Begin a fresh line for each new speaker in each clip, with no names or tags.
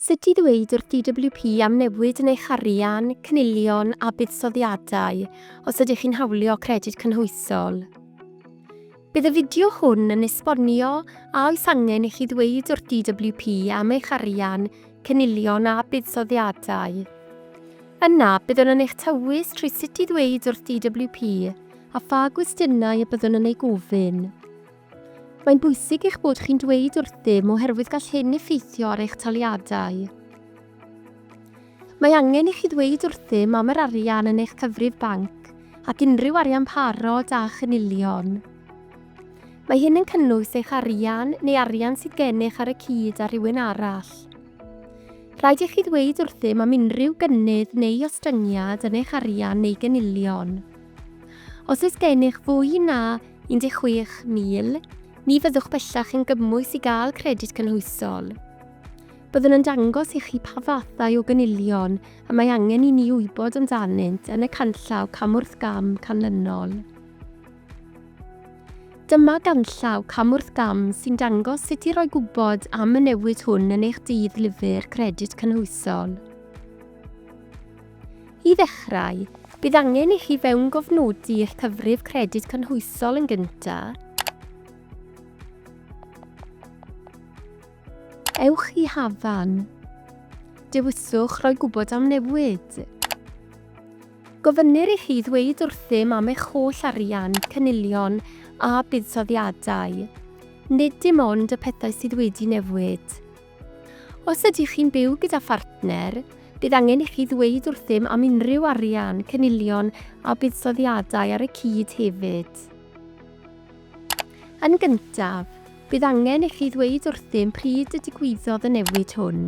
Sut i ddweud wrth DWP am newid yn eich arian, cynilion a buddsoddiadau os ydych chi'n hawlio Credyd Cynhwysol. Bydd y fideo hwn yn esbonio a oes angen i chi ddweud wrth DWP am eich arian, cynilion a buddsoddiadau. Yna, byddwn yn eich tywys trwy sut i ddweud wrth DWP a pha gwestiynau y byddwn yn eu gofyn. Mae'n bwysig eich bod chi'n dweud wrthym oherwydd gall hyn effeithio ar eich taliadau. Mae angen i chi ddweud wrthym am yr arian yn eich cyfrif banc ac unrhyw arian parod a chynilion. Mae hyn yn cynnwys eich arian neu arian sydd gennych ar y cyd â rhywun arall. Rhaid i chi ddweud wrthym am unrhyw gynnydd neu ostyngiad yn eich arian neu gynilion. Os oes gennych fwy na 16,000, ni fyddwch bellach yn gymwys i gael Credyd Cynhwysol. Byddwn yn dangos i chi pa fathau o gynilion y mae angen i ni wybod amdanynt yn y canllaw cam wrth gam canlynol. Dyma ganllaw cam wrth gam sy'n dangos sut i roi gwybod am y newid hwn yn eich dydd lyfr Credyd Cynhwysol. I ddechrau, bydd angen i chi fewngofnodi eich cyfrif Credyd Cynhwysol yn gyntaf. Ewch i Hafan. Dewiswch roi gwybod am newid. Gofynnir i chi ddweud wrthym am eich holl arian, cynilion a buddsoddiadau, nid dim ond y pethau sydd wedi newid. Os ydych chi'n byw gyda phartner, bydd angen i chi ddweud wrthym am unrhyw arian, cynilion a buddsoddiadau ar y cyd hefyd. Yn gyntaf, bydd angen i chi ddweud wrthym pryd y digwyddodd y newid hwn.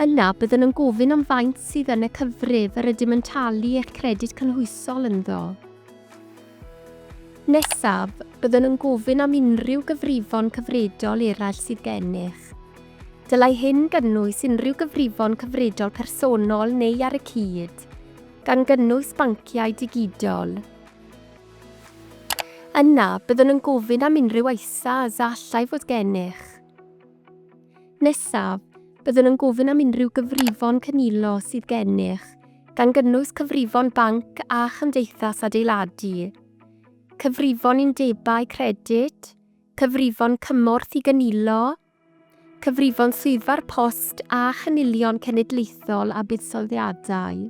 Yna, byddwn yn gofyn am faint sydd yn y cyfrif yr ydym yn talu eich Credyd Cynhwysol ynddo. Nesaf, byddwn yn gofyn am unrhyw gyfrifon cyfredol eraill sydd gennych. Dylai hyn gynnwys unrhyw gyfrifon cyfredol personol neu ar y cyd, gan gynnwys banciau digidol. Yna, byddwn yn gofyn am unrhyw ISAs a allai fod gennych. Nesaf, byddwn yn gofyn am unrhyw gyfrifon cynilo sydd gennych, gan gynnwys cyfrifon banc a chymdeithas adeiladu, cyfrifon undebau credyd, cyfrifon cymorth i gynilo, cyfrifon Swyddfa'r Post a chynilion cenedlaethol a buddsoddiadau.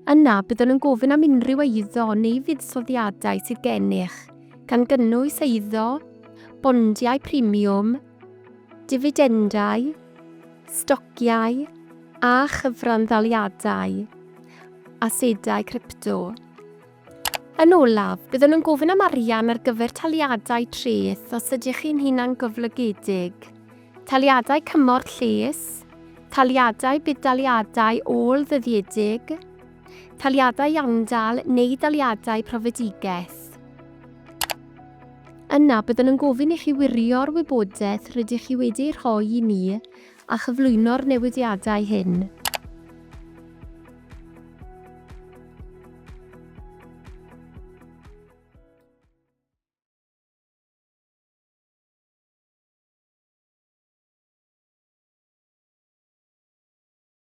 Yna, byddwn yn gofyn am unrhyw eiddo neu fuddsoddiadau sydd gennych, gan gynnwys eiddo, bondiau premiwm, difidendau, stociau a chyfranddaliadau asedau crypto. Yn olaf, byddwn yn gofyn am arian ar gyfer taliadau treth os ydych chi'n hunangyflogedig, taliadau cymorth lles, taliadau budd-daliadau ôl-ddyddiedig, Taliadau iawndal neu daliadau profedigaeth. Yna, byddwn yn gofyn i chi wirio'r wybodaeth rydych chi wedi ei rhoi i ni a chyflwyno'r newidiadau hyn.